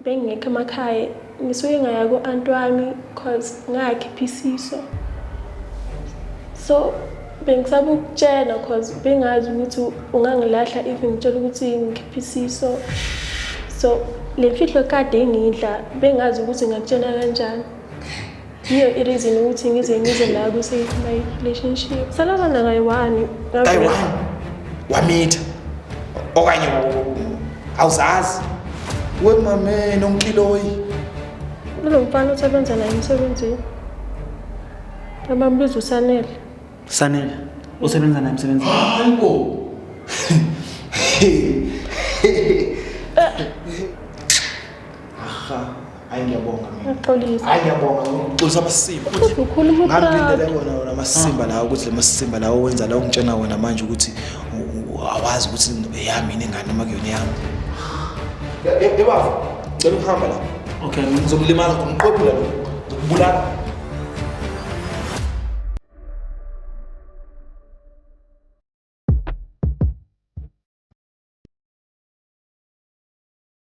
bengingekho emakhaya ngisuke ngaya ku-anti wami cause ngayakhipha isiso so bengisaba ukutshela cause bengazi ukuthi ungangilahla if ngitshela ukuthi ngikhipha isiso so le mfihlo kade ingidla bengazi ukuthi ngakutshela kanjani yiyo ireason ukuthi ngize ngize la kwi-save my relationship salabana kayi-one kayi-one wamitha okanye awuzazi wemameni onkiloyi kulo mfana osebenza naye emsebenzini abambiza usanele sanele osebenza naye emsebenzini hayibo aha Hayi ngiyabonga mina. Uyaxolisa. Hayi ngiyabonga ukuxolisa amasimba. Futhi ukhuluma utrato. Ngangilindele kona wona amasimba lawo ukuthi le masimba lawo wenza lawo ngitshena wona manje ukuthi u- u- awazi ukuthi eyami yini ingane noma kuyona eyami. Ebaba, cela ukuhamba la. Okay, ngizomlimaza ngomqophula lo. Ngibulala.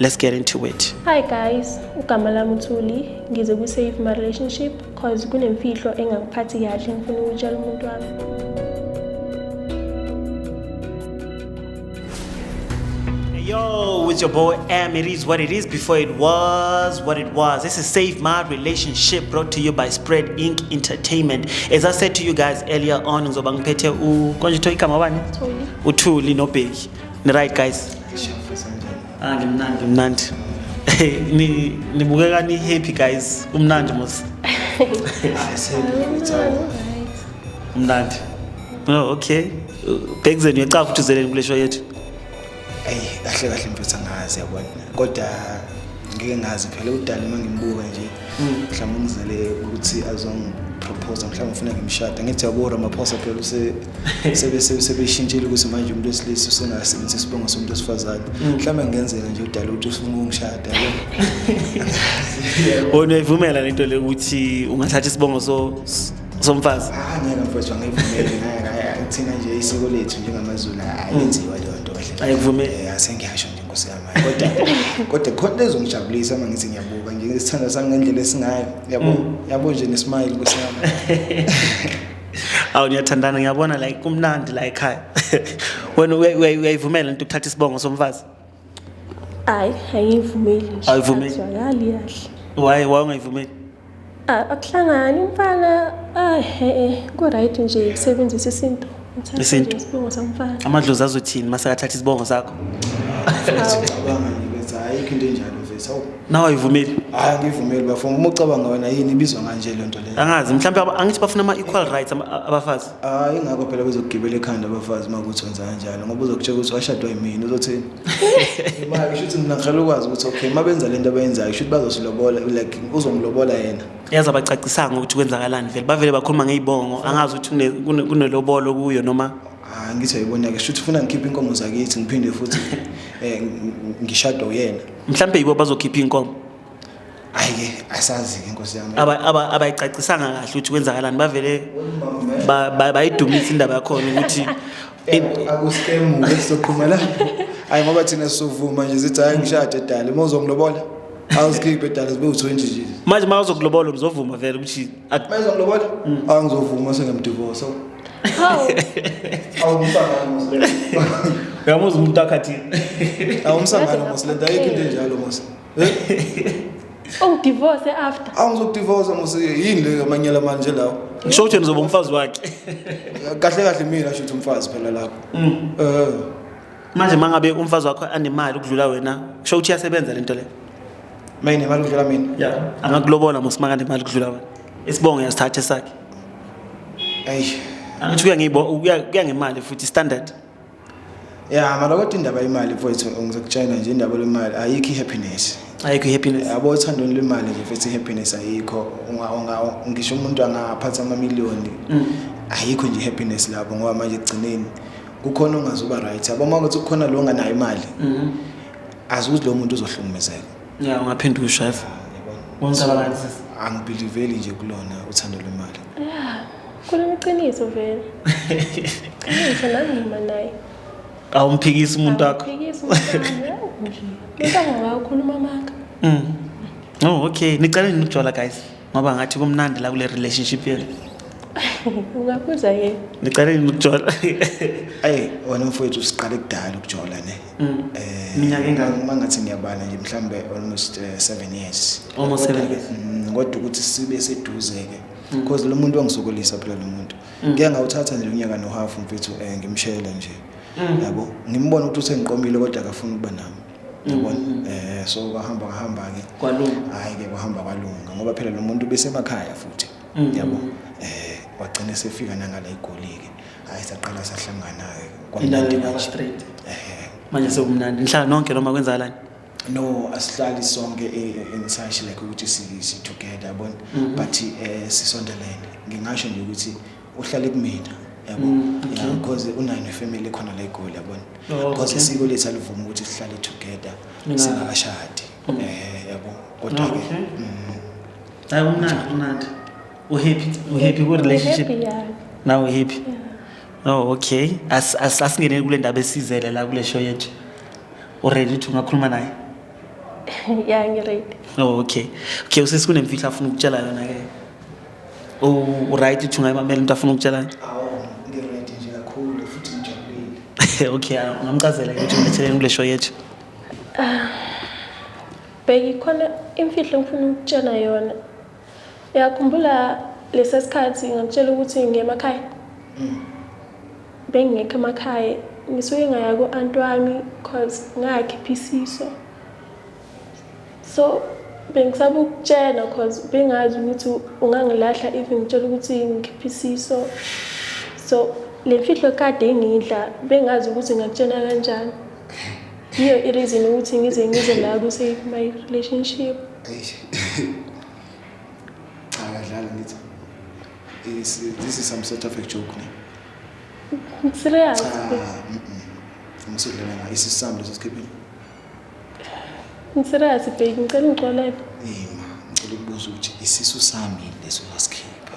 Let's get into it. Hi guys, ugama lami uThuli, ngize ku save my relationship cause kunemfihlo engangiphathi kahle ngifuna ukutshela umuntu wami. Yo, it's your boy M. It is what it is before it was what it was. This is Save My Relationship brought to you by Spread Inc. Entertainment. As I said to you guys earlier on, ngizobangiphethe u konje to igama bani? Uthuli. Uthuli no Bheki. Right guys. Ah, ngimnandi ngimnandi nibukeka ni-happy guys kumnandi mos umnandi oh, okay bhekuzeni uyecafa ukuthi uzeleni kule show yethu eyi kahle kahle mfethu angazi yabona kodwa ngike ngazi phela udala uma ngimbuka nje hmm. mhlawumbe ungizele ukuthi azongiprophosa mhlawumbe ufuna ngimshada ngithi yabo ramaphosa phela sebeshintshile ukuthi manje umuntu wesilisa usengasebenzisa isibongo somuntu wesifazane mm. mhlawumbe kungenzeka nje udala ukuthi ufuna ukungishada wona uyivumela lento le ukuthi ungathatha isibongo somfazi ah, angeke mfowethu angiyivumeli thina nje isiko lethu njengamazulu mm. ayenziwa leyo nto kahle ayikuvumeli eh, asengiyasho nje nkosi yami kodwa kodwa khona lezongijabulisa uma ngithi ngiyabuka nje isithanda sami ngendlela esingayo yabo mm. yabo nje nesmile nkosi yami awu niyathandana ngiyabona like kumnandi la ekhaya wena uya- uya- uyayivumela into ukuthatha isibongo somfazi hayi ayivumeli nje Ayivumeli? Azwakali kahle waye waye ungayivumeli Ah, akuhlangani umfana ah, eh, eh, ku-right nje kusebenzisa isintu Uthathe Isintu. nje isibongo somfana amadlozi azothini uma sekathatha isibongo sakho Awu. Cabanga nje ukuthi ayikho into enjalo mfethu. Hawu. nawe ayivumeli hayi angivumeli bafo uma ucabanga wena yini ibizwa nganje le nto leyo angazi mhlawumbe aba- angithi bafuna ama-equal rights ama- a- abafazi hayi ingakho phela bezokugibela ekhanda abafazi uma kuthi wenza kanjalo ngoba uzokutshela ukuthi washadwa yimina uzothini imali kusho ukuthi mina ngihlale ukwazi ukuthi okay uma benza le nto abayenzayo kusho ukuthi bazosilobola like uzongilobola yena yaze abacacisanga ukuthi kwenzakalani vele bavele bakhuluma ngey'bongo angazi ukuthi une- kune- kunelobolo kuyo noma Ah ngithi ayibona ke shuthi ufuna ngikhiphe inkomo zakithi ngiphinde futhi eh ngishado uyena. Mhlambe yibo bazokhipha inkomo. Hayi ke asazi ke inkosi yami. Aba aba abayicacisanga kahle ukuthi kwenzakalani bavele bayidumisa indaba yakho ukuthi akuskemu soqhuma la. Hayi ngoba thina sovuma nje sithi hayi ngishade edale mawuzongilobola. Awusikhiphe edale sibe u20 nje. Manje mawuzokulobola uzovuma vele ukuthi Manje ngilobola? Mm. Ah ngizovuma sengamdivorce. Hawu. Awumsangana Muslim. Uyamuzwa umuntu akhathini. Awumsangana Muslim, ayikho into enjalo Muslim. Eh? Ungidivorce oh, after. Awu ngizokudivorce mose yini le amanyala manje lawo. Ngisho ukuthi ngizoba umfazi wakhe. Kahle kahle mina shuthi umfazi phela lapho. Mm. Eh. manje mangabe umfazi wakho anemali ukudlula wena kusho ukuthi iyasebenza lento le mina imali ukudlula mina yeah angakulobola mosimaka nemali ukudlula wena isibongo yasithatha sakhe eish angithi kuya ngibo kuya ngemali futhi standard yeah mara kodwa indaba yemali mfowethu ngizokutshela nje indaba lemali ayikho i-happiness ayikho i-happiness yabo othandweni lwemali nje mfethu i-happiness ayikho ngisho umuntu angaphatha amamiliyoni mm. ayikho nje i-happiness lapho ngoba manje ekugcineni kukhona ongazuba right yabo uma ukuthi kukhona lo nganayo imali mhm. azi ukuthi lo muntu uzohlukumezeka ya ungaphinde ushef angibhiliveli nje kulona uthando lwemali kuneqiniso vele qiniso nami ngima naye awumphikisi umuntu wakho nje ukhuluma maka mm. oh okay niceleni nokujwala guys ngoba ngathi kumnandi la kule relationship yenu ungabuza yena niqale yini ukujola ayi wena mfowethu siqale kudala ukujola ne mm. eh minyaka engaka uma ngathi ngiyabala nje mhlambe almost 7 uh, eh, years almost 7 years mm, kodwa ukuthi sibe seduze ke mm. because lo muntu wangisokolisa phela lo muntu mm. ngeke ngawuthatha nje unyaka no half mfethu eh, ngimshele nje yabo ngimbona ukuthi usengiqomile kodwa akafuni ukuba nami yabona mm. eh so kwahamba kwahamba ke kwalunga hayi ke kwahamba kwalunga ngoba phela lo muntu besemakhaya futhi mm. yabo eh wagcina sefika nangala igolike hayi saqala sahlangana ke kwamnandi nje straight eh manje sekumnandi nhlala nonke noma kwenzakalani no asihlali sonke engisashi e, like ukuthi si together yabona mm-hmm. but eh sisondelene ngingasho nje ukuthi uhlale kumina yabo mm, yeah because unayo nefamily khona la egoli yabona oh, because isiko lethu alivuma ukuthi sihlale together singakashadi mm. eh yabo kodwa ke mm. hayi umnandi umnandi u happy u happy ku relationship now u happy oh okay as as asingene kule ndaba esizele la kule show yethu u ready to ngakhuluma naye yeah ngi ready oh okay okay usisi kunemfihlo afuna ukutshela yona ke uright ukuthi ungayimamela into afuna ukutshelana okay ungamchazela ukuthi uletheleni kule show yethu bheki khona imfihlo ngifuna ukutshela yona uyakhumbula lesa sikhathi ngakutshela ukuthi ngiye emakhaya mm. bengingekho emakhaya ngisuke ngaya ku-anti wami cause ngakhipha isiso so bengisaba ukutshena cause bengazi ukuthi ungangilahla even ngitshela ukuthi ngikhiphe isiso so le mfihlo kade ingidla bengazi ukuthi ngakutshena kanjani yiyo i-reason ukuthi ngize ngize la ku-save my relationship cha kadlala ngithi this is some sort of a joke ne serious ngisidlela isisambulo sesikhiphe Ngiserious baby ngicela ungixolele. Hey ma, ngicela ukubuza ukuthi isisu sami leso wasikhipha.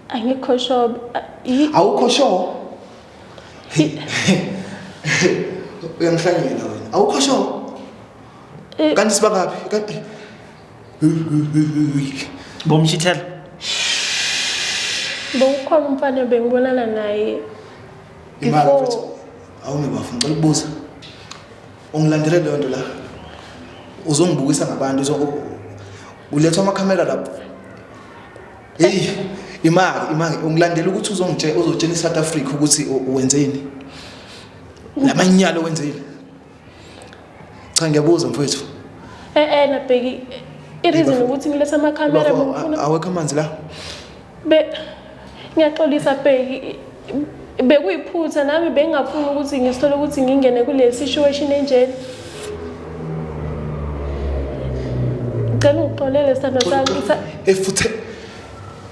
Angikho sure. Awukho sure? Uyangihlanyela wena. Awukho sure? Eh. Kanti sibangaphi? Kanti Bomshithela. Bowukhona umfana bengibonana naye. Imali Awume bafo ngicela ukubuza. Ungilandele leyo nto la. Uzongibukisa ngabantu uzo ulethwa amakhamera lapho. Hey, imali, imali ungilandela ukuthi uzongitshela uzotshela iSouth Africa ukuthi wenzeni. Lamanyalo wenzeni. Cha ngiyabuza mfowethu. Eh eh nabheki ireason ukuthi ngilethe ama camera ngifuna awekho amanzi la. Be ngiyaxolisa bheki bekuyiphutha nami bengingafuni ukuthi ngisithole ukuthi ngingene kule situation enjena. Ngicela ungixolele sithandwa sami. Efuthe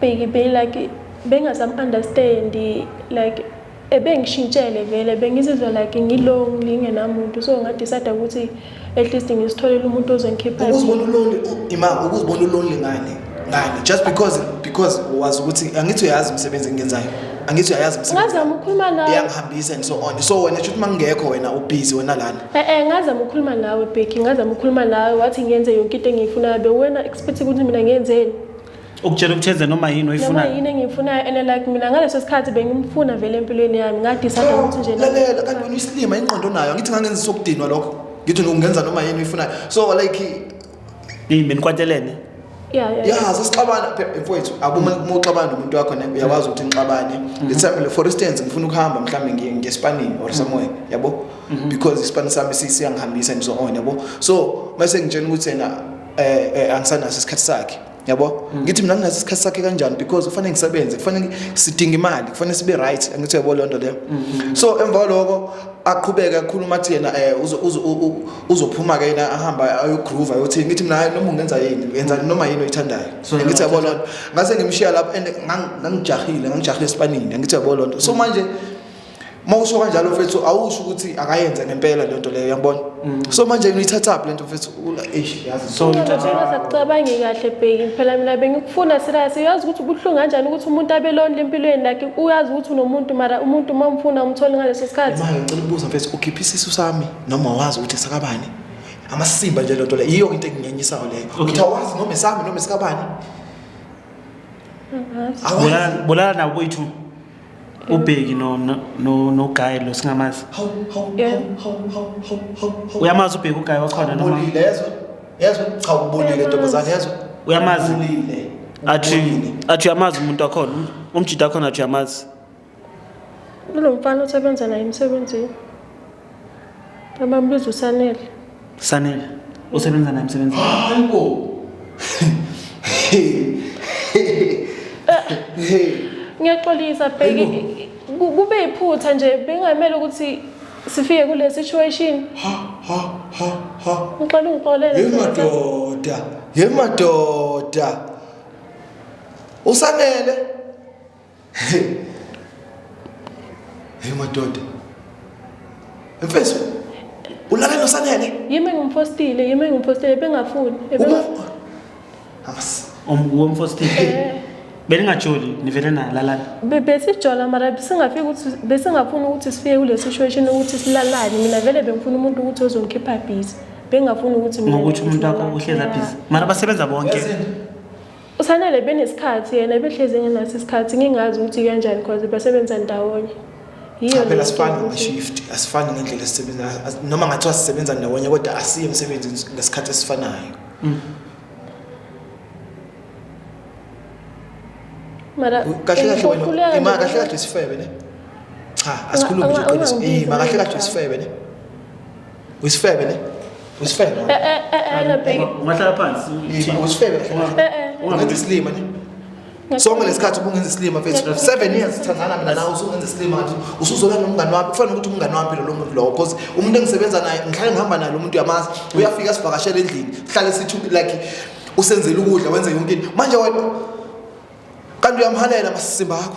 Bheki be like bengazam understand like ebengishintshele vele bengizizwa like ngilonely ngenamuntu so ngadecide ukuthi at least ngisitholele umuntu ozongikhipha ukuzibona ulonely ima ukuzibona ulonely ngani ngani just because because wazi ukuthi angithi uyazi umsebenzi engenzayo angithi uyayazi ngazama ukukhuluma nawe iyangihambisa and so on so wena shuthi mangekho wena ubhizi wena lana eh eh ngazama ukukhuluma nawe Becky ngazama ukukhuluma nawe wathi ngenze yonke into engiyifunayo bewena expect ukuthi mina ngenzeni ukutshela ukuthenze noma yini oyifunayo noma yini engiyifunayo and like mina ngaleso sikhathi bengimfuna vele empilweni yami ngadisada ukuthi nje lalela kanti wena uyisilima ingqondo nayo ngithi ngangenza sokudinwa lokho ngithi ungenza noma yini oyifunayo so like yini benikwatelene yeah yeah yeah sasixabana mfowethu akuma uxabana umuntu wakho ne uyawazi ukuthi ngixabane mm-hmm. let's say for instance ngifuna ukuhamba mhlambe ngiye ngespanini or mm-hmm. somewhere yabo mm-hmm. because ispanini sami siyangihambisa and so on yabo so mase ngitshela ukuthi yena eh, eh angisanaso isikhathi sakhe yabo mm. ngithi mina nginaso isikhathi sakhe kanjani because kufanele ngisebenze kufanele sidinga imali kufanele sibe right angithi yabo lonto leyo mm, mm, so emva lokho aqhubeke akhuluma athi yena eh uzophuma ke yena ahamba ayogroove ayothi ngithi mina noma ungenza yini yenza noma yini oyithandayo ngithi yabo lonto ngase ngimshiya lapho and ngangijahile ngangijahile esipanini ngithi yabo lonto so manje uma usho kanjalo mfethu awusho ukuthi akayenze ngempela le nto leyo yangibona mm. so manje uyithathaphi le nto mfethu eish yazi so sacabangi kahle bheki phela mina bengikufuna serious uyazi ukuthi ubuhlungu kanjani ukuthi umuntu abe lonely empilweni lakhe uyazi ukuthi unomuntu mara umuntu uma umfuna umthole ngaleso sikhathi manje ngicela ukubuza mfethu ukhipha isisu sami noma wazi ukuthi sakabani amasimba nje lento le yiyo into engingenyisayo leyo ukuthi awazi noma esami noma esikabani bolala nabo boyithu ubheki no no no, no guy lo singamazi Hawu, hawu, Yeah. hawu, hawu, hawu, hawu, hawu, hawu. uyamazi ubheki uguy wakhona noma Ubulile, yezwa? Yezwa? Cha, ubulile, ntombazane, yezwa? Uyamazi? Ubulile. athi Ubulile. athi uyamazi umuntu wakhona um- umjita wakhona athi uyamazi Kulo mfana osebenza naye emsebenzini. Abambiza uSanele. Sanele. Usebenza naye msebenzi. Hayi bo. Ngiyaxolisa bheki ku- kube iphutha nje bengamele ukuthi sifike kule situation. Ha ha ha ha. Ngicela ungixolele. Hey Ntokozo. madoda, hey madoda. Usanele. Hey. Hey madoda. Mfethu. Ulala nosanele? Yimi ngumfostile, yimi ngumfostile bengafuni. Uma Amas. Umfostile. Eh. Belingajoli nivele na lalana. Besijola mara besingafika ukuthi besingafuna ukuthi sifike kule situation ukuthi silalane. Mina vele bengifuna umuntu ukuthi ozongikhipha busy. Bengafuni ukuthi mina. Ngokuthi umuntu wakho uhleza busy. Mara basebenza bonke. USanele benesikhathi yena behlezi engenaso isikhathi ngingazi ukuthi kanjani cause basebenza ndawonye yiyo phela asifani ngeshift asifani ngendlela esisebenza noma ngathiwa sisebenza ndawonye kodwa asiye emsebenzi ngesikhathi esifanayo mm. mara kahle kahle wena ima kahle kahle isifebe ne cha asikhulumi nje qiniso ima kahle kahle isifebe ne Uyisifebe ne? Uyisifebe. Eh eh eh eh bheki. Ungahlala phansi. Uyisifebe. Eh eh. Ungathi silima ne? sonke lesikhathi ubungenza isilima mfethu 7 years sithandana mina nawe usungenza isilima ngathi usuzola nomngani wakho kufanele ukuthi umngani wami phela lo muntu lowo because umuntu engisebenza naye ngihlale ngihamba naye lo muntu yamazi uyafika sivakashela endlini sihlale sithi like usenzela ukudla wenze yonke into manje wena kanti uyamhalela masisimba akho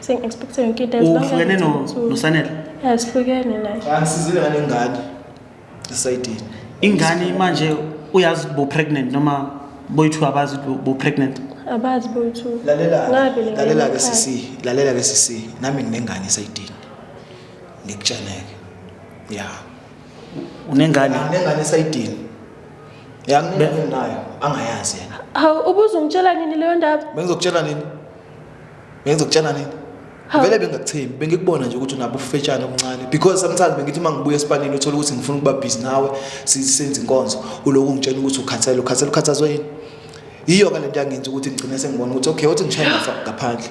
Sengi-expecte yonke into as long as uhlukene it's no- up to- nosanele Yeah, sihlukene naye angisizile ngane ingane esayidini ingane manje uyazi ukuthi bo-pregnant noma boyi-two abazi ukuthi bo-pregnant abazi boyithu lalela ngabe le lalela ke ngane sisi lalela ke sisi nami nginengane esayidini ngikutsheneke ya unengane nginengane esayidini ya nginengane nayo angayazi yena hawu ubuze ungitshela nini leyo ndaba bengizokutshela nini bengizokutshela nini vele bengakuthembi bengikubona nje ukuthi unabo ufetshana omncane because sometimes bengithi uma ngibuya esipanini uthole ukuthi ngifuna ukuba busy nawe sisenze inkonzo uloku ungitshela ukuthi ukhathele ukhathele ukhathazwe yini yiyo ke lento yangenza ukuthi ngigcine sengibona ukuthi okay othi ngishaya ngafa ngaphandle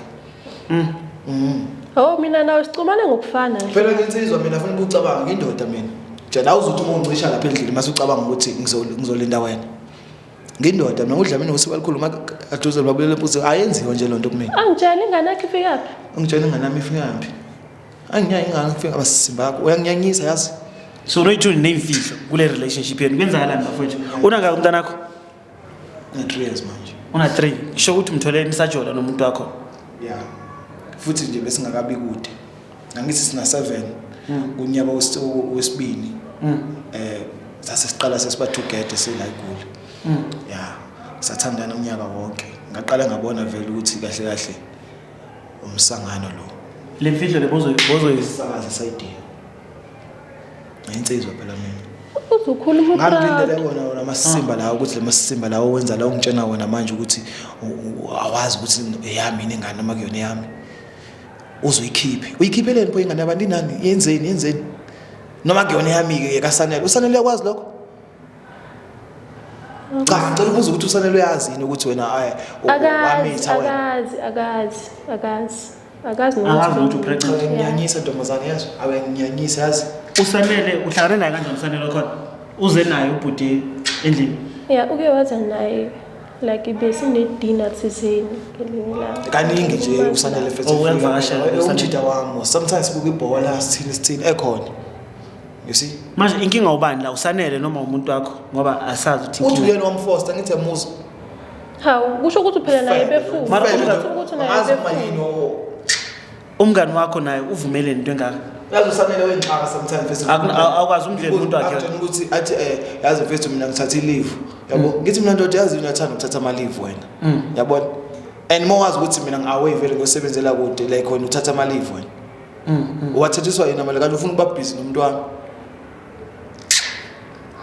mm mm oh mina nawe sicumane ngokufana nje phela ngensizwa mina ngifuna ukucabanga indoda mina njena awuzothi uma uncisha lapha endlini mase ucabanga ukuthi ngizolinda wena ngindoda mina udlamini ngosiko alikhulu uma aduze babulele mpuzo ayenziwa nje lonto kumina angitshela ingane yakhe ifika phi angitshela ingane yami ifika phi anginyaya ingane ifika abasibakho uyanginyanyisa yazi so Rachel nemfihlo kule relationship yenu kwenzakalani bafowethu una ka umntana wakho na 3 years manje una 3 ngisho ukuthi umthole nisajola nomuntu wakho yeah futhi nje besingakabi kude Angithi sina 7 mm. kunyaka wesibini mm. eh sase siqala sesiba together sila igoli. Mm. Yeah. Sathandana unyaka wonke. Ngaqala ngabona vele ukuthi kahle kahle umsangano lo. Le video lebozo bozo isakaza sayidini. Ngensizwa phela mina. uzokhula umutra ngangilindele wona wona amasimba lawo ukuthi lemasimba lawo wenza la ungitshena wona manje ukuthi awazi ukuthi eyami ingane noma kuyona yami uzoyikhiphe uyikhipheleni pho ingane yabantu inani yenzeni yenzeni noma kuyona yami-ke yekasanele usanele uyakwazi lokho cha ngicela ubuza ukuthi usanele uyazi yini ukuthi wena ayi wamitha wena akazi akazi akazi akazi akazi ukuthi upregnant nginyanyisa ntombazane yazi awe nginyanyisa yazi usanele uhlangane naye kanjani usanele khona uze naye ubhuti endlini ya uke waza naye like besinedina thizeni ngelinye langa kaningi nje usanele fethumjida oh, wami sometimes sibuka ibhola sithini sithini ekhona you see manje inkinga ubani la usanele noma umuntu wakho ngoba asazi ukuthi uthi uyena wamfosta ngithe muzo hawu kusho ukuthi uphela naye befuthi kusho ukuthi naye befuthi Umngani wakho naye uvumele into engaka. Yazi usamele wenxaka sometimes face. Awukwazi umdlela umuntu wakhe. Akuthola ukuthi athi eh yazi face mina ngithatha ileave. Yabo mm. ngithi mina ndoda yazi unathanda ukuthatha ama leave wena. Mm. Yabona? And more wazi ukuthi mina ngiaway vele ngosebenzela kude like wena uthatha ama leave wena. Mm. Wathethiswa yena mali kanti ufuna ukuba busy nomuntu wami.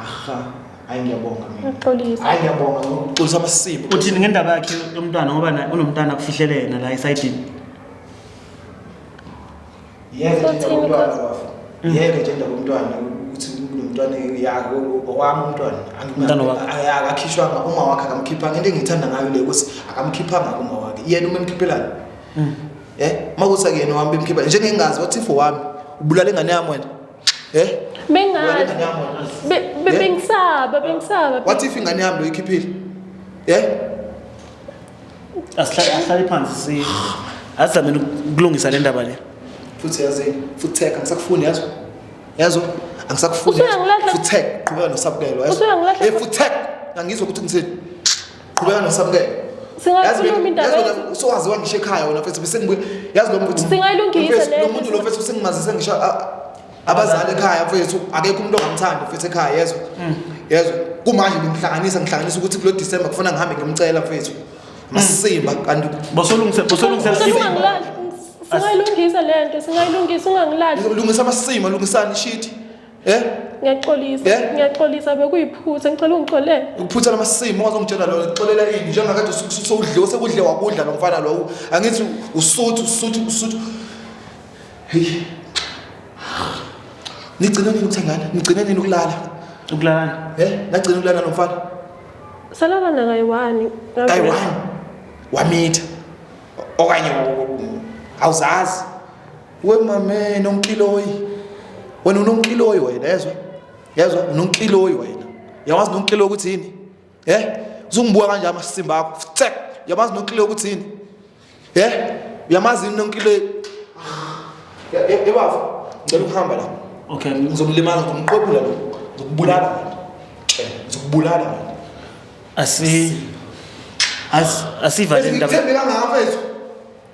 Aha. hayi ngiyabonga mina uxolisa hayi ngiyabonga uxolisa amasimba uthini ngendaba yakhe yomntwana ngoba unomntana kufihlele yena la esayidini yeke nje umntwana wafa yeke nje ndaba umntwana ukuthi umntwana yakho owami umntwana akakhishwanga uma wakhe akamkhiphanga into engiyithanda ngayo le ukuthi akamkhiphanga kuma wakhe yena uma emkhiphelayo um hmm. eh, uma kuthi akuyena wami bemkhipha njengengazi what if owami ubulala ingane yami wena Eh? Bengazi. Bengisaba, bengisaba. What if ingane yami loyikhiphile? Eh? Asihlale asihlale phansi si. Asizame ukulungisa le ndaba le. Futhi yazi, futhi theka ngisakufuni yazi. Yazo angisakufuni. Futhi theka qhubeka nosabukelo yazi. Eh futhi theka ngangizwa ukuthi ngiseni. qhubeka nosamukele singakhuluma indaba usuwaziwa ngisho ekhaya wena mfethu bese ngibuye yazi lo mfethu singayilungisa lo muntu lo mfethu sengimazise ngisho abazali ekhaya mfethu akekho umuntu ongamthandi mfethu ekhaya yezwa mm. yezwa kumanje ngimhlanganisa ngihlanganisa ukuthi kulo December kufanele ngihambe ngimcela mfethu masimba mm. kanti bosolungise bosolungise singayilungisa lento singayilungisa ungangilahli lungisa amasima lungisani shit Eh? Ngiyaxolisa. Eh? Ngiyaxolisa bekuyiphutha ngicela ungixolele. Ukuphutha lamasimu ungazongitshela lona ngixolela ini njengakade usukudliwe sekudle wakudla lo mfana lo. Angithi usuthu usuthu usuthu. Hey. Nigcina nini ukuthengana? Nigcina nini ukulala? Ukulalana? Eh? Nagcina ukulala lo mfana? Salala na kayiwani. Kayiwani. Wamitha. Okanye awuzazi. We mame nonkiloyi. Wena unonkiloyi wena yezwa? Yezwa unonkiloyi wena. Yawazi nonkiloyi ukuthi yini? Eh? Uzungibuka kanje amasimba akho. Tsek. Yawazi nonkiloyi ukuthi yini? Eh? Yamazi nonkiloyi. Ebafu. Ngicela ukuhamba la. Okay, ngizomlimaza ngomqobula lo. Ngizokubulala wena. Ngizokubulala wena. Asi As asivaleni ndaba. Ngithembe kangaka mfethu.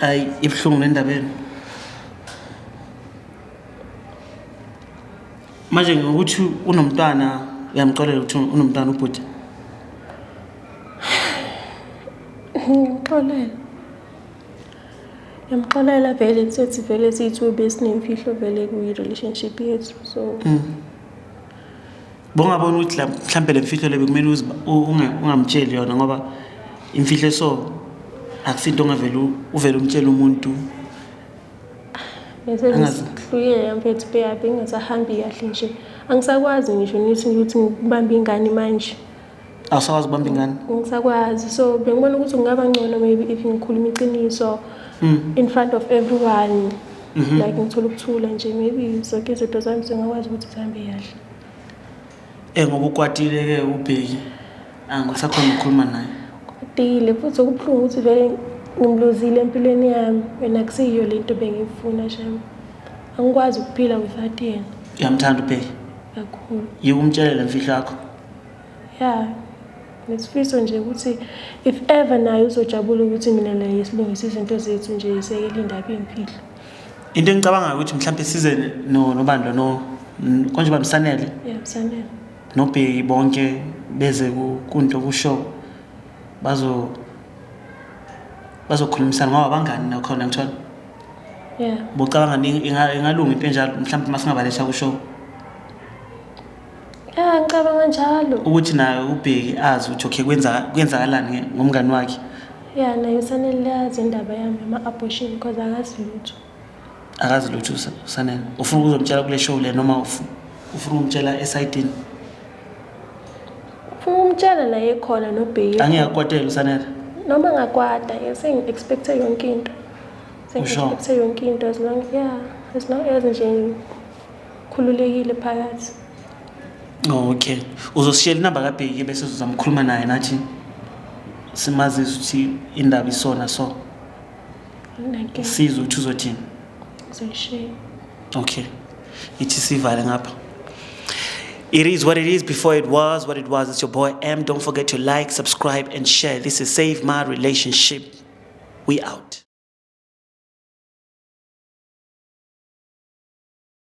hayi ibuhlungu le ndaba yenu manje ngokuthi unomntwana uyamxolela ukuthi unomntwana ubhuti ngimxolela ngimxolela vele sethi vele siyi-two besinemfihlo vele kwi-relationship yethu so mm. bongabona ukuthi mhlawumbe le mfihlo le bekumele ungamtsheli yona ngoba imfihlo eso akusinto ongavele uvele umtshele umuntu ngisezihluyele mfethu beyabe ngingasahambi kahle nje angisakwazi ngisho nithi ukuthi ngibambe ingane manje awusakwazi ukubamba ingane ngisakwazi so bengibona ukuthi kungaba ngcono maybe if ngikhuluma iqiniso mm. in front of everyone mm -hmm. like ngithola ukuthula nje maybe zonke izinto zami zingakwazi ukuthi zihambe kahle eh ngoba ukwatile ke ubheki angisakhona ukukhuluma naye kwatile futhi okubuhlungu ukuthi vele ngimluzile empilweni yami wena kuseyiyo le nto bengiyifuna sham angikwazi ukuphila without yena uyamthanda ubheki kakhulu yikumtshelela mfihlo yakho ya nesifiso nje ukuthi if ever naye uzojabula ukuthi mina naye silungise izinto zethu nje isekele indaba iyimfihlo into engicabangayo ukuthi mhlawumbe size nobandla no konje bamsanele yeah msanele nobheki bonke beze kunto kushow bazo bazokhulumisana ngoba bangani nakhona ngithola yeah bocabanga ingalunga into enjalo mhlawumbe masingabalesha kushow Ya ngicabanga njalo. Ukuthi naye ubheki azi ukuthi okay kwenza kwenzakalani ngomngani wakhe. Ya naye usanele lazi indaba yami ama abortion because akazi lutho. Akazi lutho usanele. Ufuna ukuzomtshela kule show le noma ufuna ufuna ukumtshela esidini? Ufuna ukumtshela la ekhona nobheki. Angiyakwatela usanele. Noma ngakwata sengi expect yonke into. Sengi expect yonke into as long yeah as long as nje khululekile phakathi okay uzosishela inamba kabheki bese uzama ukukhuluma naye nathi simazise ukuthi indaba isona so sizwe ukuthi uzothini uzoyishiya okay ithi sivale ngapha It is what it is before it was what it was. It's your boy M. Don't forget to like, subscribe, and share. This is Save My Relationship. We out.